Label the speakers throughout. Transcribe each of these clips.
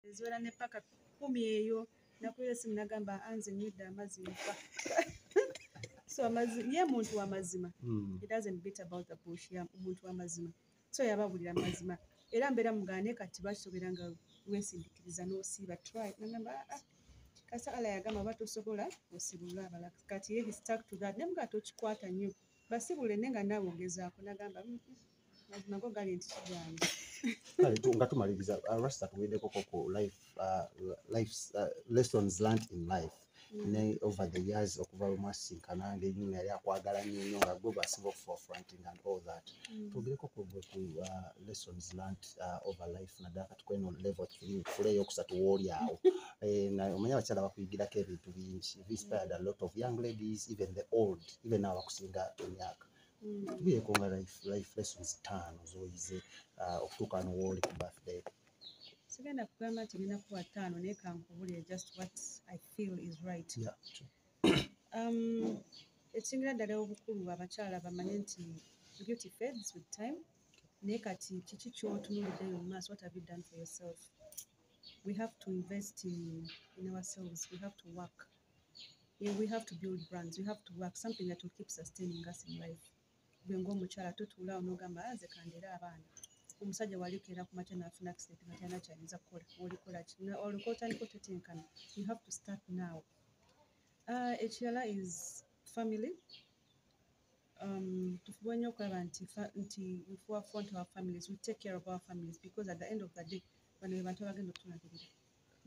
Speaker 1: eziwera ne paka kumi eyo nakuyo esimu nagamba anze nyidde amazzi nfa so amazzi ye muntu wamazima hmm. it doesn't beat about the bush ya muntu wamazima so yababulira amazima era mbeera mugane kati basobera nga wesindikiriza nosiiba try nagamba ah, ah. kasa ala yagamba oba tosobola osibulula abala kati ye he stuck to that naye mugati okikwata nnyo basibule ne nga naawe ogezaako nagamba mm -mm. nga
Speaker 2: tumaliriza uh, rasta tuwedekoko ku life uh, life uh, lessons learnt in life mm. ne over the years okuva lwemwasinkana ngenyini yali akwagala nyonyo nga gwe basiba okuforfronting and all that mm. twogereko kugwe ku lessons learnt over life naddala kati kweno level three fule eyokusatu wooli awo eh, omanye abakyala bakuyigirako ebintu bingi inspired a lot of young ladies even the old even abakusinga emyaka tubieko nga life life lessons taano zoyize uh, okutuuka no wooli ku birthday sigenda
Speaker 1: kugamba nti ngenda kuba taano naye kankubulire just what i feel is right yeah, true.
Speaker 2: um,
Speaker 1: ekisingira ddala obukulu abakyala bamanye nti beauty fades with time naye kati kiki kyotunuliddeyo mu maaso what have you done for yourself we have to invest in, in ourselves we have to work Yeah, we have to build brands. We have to work something that will keep sustaining us in life. Gwe ng'omukyala totuula onogamba aze ah, kandera abaana omusajja waliokera ku makya nafuna accident nga talina kyayinza kukola olikola ki olwoka otandika otetenkana you have to start now uh, ekirala is family um, tufuba nnyo okulaba nti nti wefuwa front our families we take care of our families because at the end of the day bano be bantu abagenda okutulagirira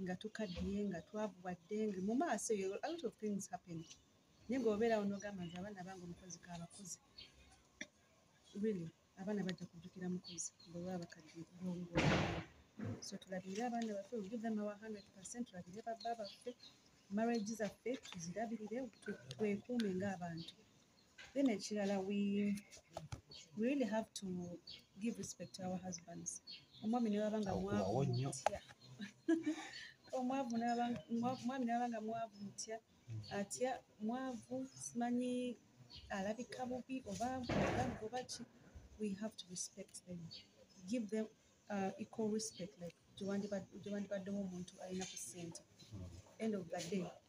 Speaker 1: nga tukaddiye nga twavubwa dde nga mu maaso eyo a lot of things happen naye ng'obeerawo n'ogamba nti abaana bange omukozi kaabakozi really abaana bajja kujjukira mukozi bwe baba bakaddiye kulongo so tulabirire abaana baffe we give them our hundred percent tulabirire babba baffe marriage zaffe tuzirabirire twekuume ng'abantu then ekirala we we really have to give respect to our husbands omwami newaba nga mwavu mutya omwavu omwami newaba nga mwavu mutya atya mwavu simanyi alabika bubi oba oba ki we have to respect them give them uh, equal respect like gyewandibaddewo omuntu alina ku sente end of the day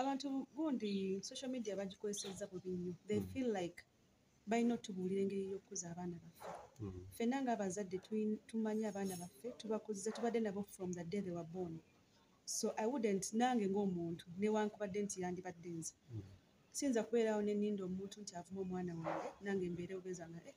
Speaker 1: abantu gundi social media bagikozesezza bubi nnyo they mm. feel like balina otubuulira engeri y'okukuza abaana baffe mm. ffenna ng'abazadde tumanyi abaana baffe tubakuziza tubadde nabo from the day they were born so i wouldn't nange ng'omuntu newankubadde nti yandibadde nze mm. siyinza kubeerawo neninda omuntu nti avuma omwana wange nange mbeere obeza nga eh,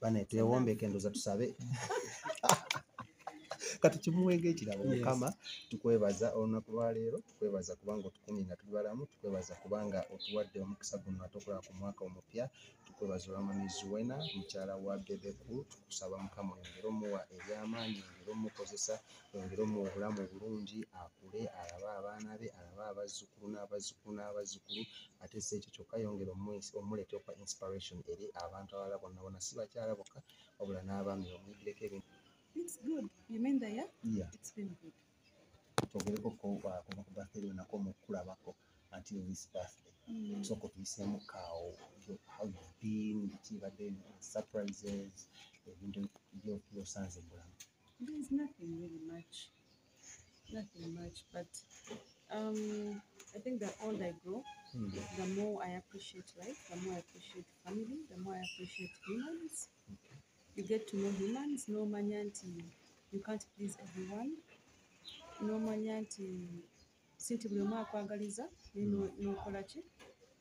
Speaker 2: bane twewombeke ndoza tusabe kati kimuwenga ekirabo mukama tukwebaza olunaku lwaleero tukwebaza kubanga otukumye nga tuli balamu tukwebaza kubanga otuwadde omukisa guno ate okulaba ku mwaka omupya tukwebaza olwamami zuwena mukyala wa bebeku tukusaba mukama oyongere omuwa ebyamaanyi oyongere omukozesa oyongere omuwa obulamu obulungi akule alabe abaana be alabe abazzukulu n'abazzukulu n'abazzukulu ate si ekyo kyokka yongera omuleeta okwa inspiration eri abantu abalala bonna bona si bakyala bokka wabula n'abaami bamuyigireko ebintu
Speaker 1: kyogereko
Speaker 2: kuva ku birthday lwonako omukulabako until this birthday mm. so kutuyiseemu kaawo how you been kibadde surprises ebintu byosanze mu bulamu
Speaker 1: Nothing much, but um, I think the older I grow, Hmm. the more I appreciate life, the more I appreciate family, the more I appreciate humans. You get to know humans, no manyanti. You can't please everyone. No manyanti. Sinti buli omu akwagaliza, naye no- nokola ki?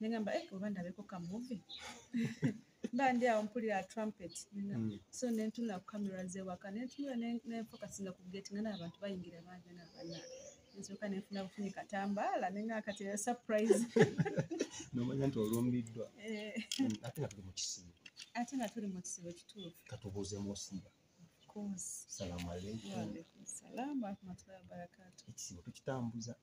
Speaker 1: nengamba eh, oba ndabeko ka muvi mba ndi awo mpulira trumpet mm. so nentuna ku camera zewaka nentunula nenfokasinga ku gate nga naabantu bayingira bangi nabana nsoka nenfuna bufunyi katambaala nenga kati era surprise nomanya
Speaker 2: nti olumbiddwa eh. mm, ate nga tuli mu kisibo ate nga tuli mu
Speaker 1: kisibo kituufu katubuuze musinga
Speaker 2: salamu aleikum salamu
Speaker 1: akumatullahi wabarakatu ekisibo tukitambuza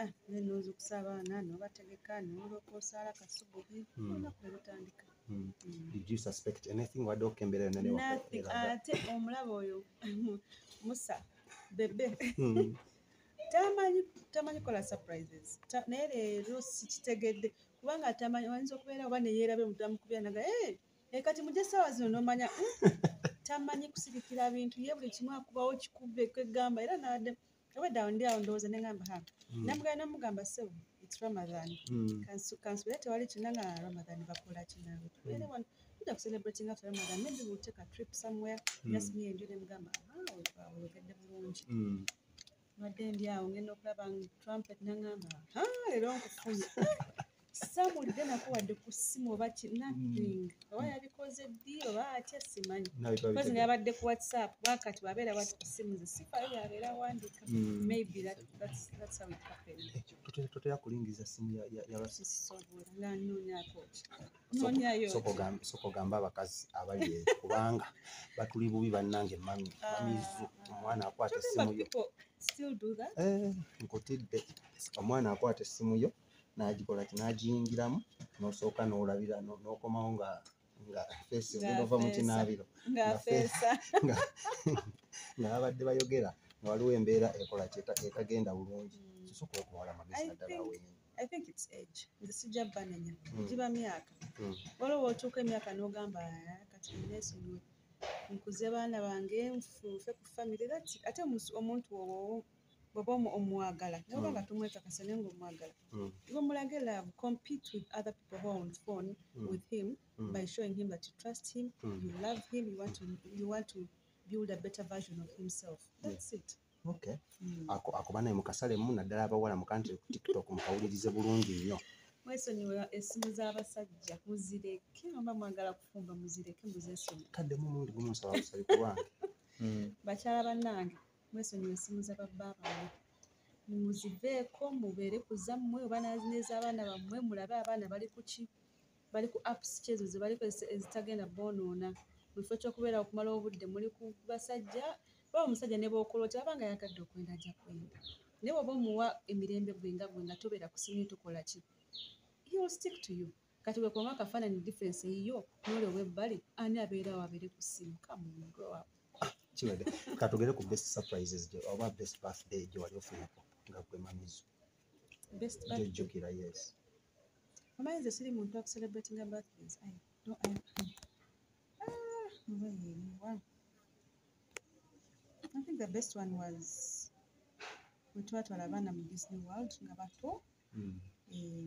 Speaker 1: Ah, nze okusaba abaana nobategeka noloka osaala kasubuhi hmm. olunaku nelutandika
Speaker 2: hmm. hmm. wadde okembera yonaate
Speaker 1: ah, omulaba oyo musa bebe tamanyi tamanyi kola surprises naye leero sikitegedde kubanga tamanyi ayinza okubeera oba neyerabe mudamukubya naga eh, eh, kati muje sawa zino nomanya tamanyi kusirikira bintu ye buli kimu akubawo kikubbe kwegamba era nade obwedda awo ndi awo ndowooza ne ngamba ha hmm. namugala namugamba sebo its ramadan hmm. kansubira tewali kina nga ramadan bakola kinawe tubeere hmm. wano tuja kucelebrating after ramadan maybe we'll take a trip somewhere just me and you nemugamba oyogedde bulungi wadde ndi awo ngenda okulaba trumpet nangamba ha leero nkufunye samuwulidde nako wadde ku ssimu oba kinathing mm. oba yabikoze ddi oba atya simanyi kozi nayabadde ku whatsapp wakati wabeera wati ku ssimu ze sifayo yabeera wandika mm. maybe toteya kulingiza
Speaker 2: simu
Speaker 1: yabasooka ogamba abakazi
Speaker 2: abali kubanga batuli bubi bannange mami ah. mamizu omwana akwata essimu yo
Speaker 1: eh, nkutidde
Speaker 2: omwana akwata essimu yo n'agikola ki n'agiyingiramu n'osooka n'olabira no- n'okomawo nga nga feesi Nga ogenda ova mu feesa. kinaabiro ng'afeesa nga nga babadde bayogera nga waliwo embeera ekola ki eta- etagenda bulungi Mm. sosoka okuwala amagezi I naddala think- wenyi i think its age
Speaker 1: nze sijja banenya Mm. giba myaka Mm. waliwo wotuuka emyaka n'ogamba "Ah, kati nesonyiwe nkuze baana bange nfunfe ku famire that ate omus- omuntu wowo bwoba omwagala naye oba nga tomwekakasa naye nga omwagala iwe mulage love compete with other people who are on phone with him by showing him that you trust him you love him you want to, you want to build a better version of himself that's it okay mm.
Speaker 2: ako akuba naye mukasale mu naddala abawala mu country ku tiktok mukawulirize bulungi nnyo mwesonyiwe
Speaker 1: esimu z'abasajja muzireke oba mwagala kufumba muzireke muzesonyi kadde mu mulundi gumu nsaba
Speaker 2: busabi ku bange hmm. bakyala
Speaker 1: bannange mwesonyiwe essimu za babba bammwe muziveeko mubeere ku zammwe oba n'ez'abaana bammwe mulabe abaana bali ku ki bali ku apps ki ezo ze balikozesa ezitagenda boonoona mu kifo ky'okubeera okumala obudde muli ku basajja oba omusajja ne bookola oti aba nga yagadde okwenda ajja kwenda naye oba omuwa emirembe gwe nga gwe nga tobeera ku simu tukola ki he will stick to you kati wekonga akafaananyi difference eyiyo nole owebbali ani abeerawo abeere ku simu kamungrow kiwede
Speaker 2: katugere ku best surprises gyo oba best birthday gye wali ofunako nga gwe mamizo
Speaker 1: jojjukira yes
Speaker 2: omanyi
Speaker 1: nze siri muntu akucelebratinga birthdays ah, I think the best one was wetwatwala abaana mu disney world nga bato mm. eh,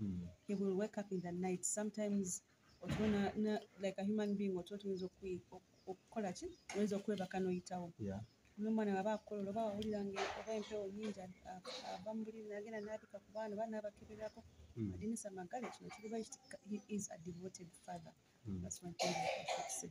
Speaker 1: mm. he will wake up in the night sometimes otona na, like a human being otwo tuyinza okukola ki oyinza okwebaka noyitawo yeah. nomwana waba akukolola oba wawulira nga oba empewo nyingi ava mu buliri nagenda nabika ku baana oba nabakeberako mm. adinisa magale kino kiriba is a devoted father mm. that's one thing I should say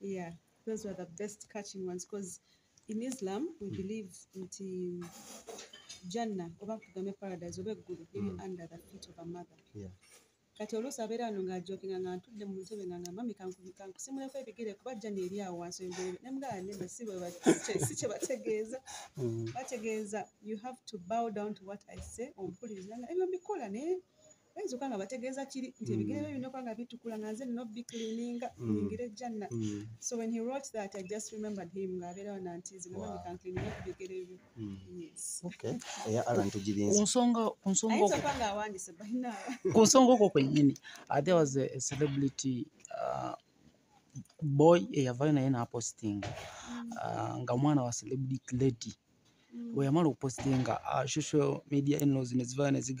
Speaker 1: yeah those were the best catching ones because in islam we hmm. believe nti janna oba kugambe paradise oba eggulu
Speaker 2: liri
Speaker 1: hmm. under the feet of a mother yeah. kati oluusi abeera ano ng'ajokinga nga ntudde mu ntebe nga nga mami kankusimuleko ebigere kuba jjani eri awo wansi ebigere ne mugala nene si kye bategeeza hmm. bategeeza you have to bow down to what i say ompuliriza nga ebyo mbikola naye oyinza okuba nga bategeeza kiri nti ebigere bye binokuba nga bitukula nga nze nina obiklininga nyingire ejjanna so when he wrote that i just remembered him ng'abeerawo nanti zinamabikankliniga
Speaker 3: ku
Speaker 1: bigere byo ku nsonga okwo
Speaker 3: kwennyini uh, there was a celebrity uh, boy eyavayo naye napostinga uh, nga mwana wa celebrity lady mm. weyamala okupostinga social media enlozi nezivayo neziga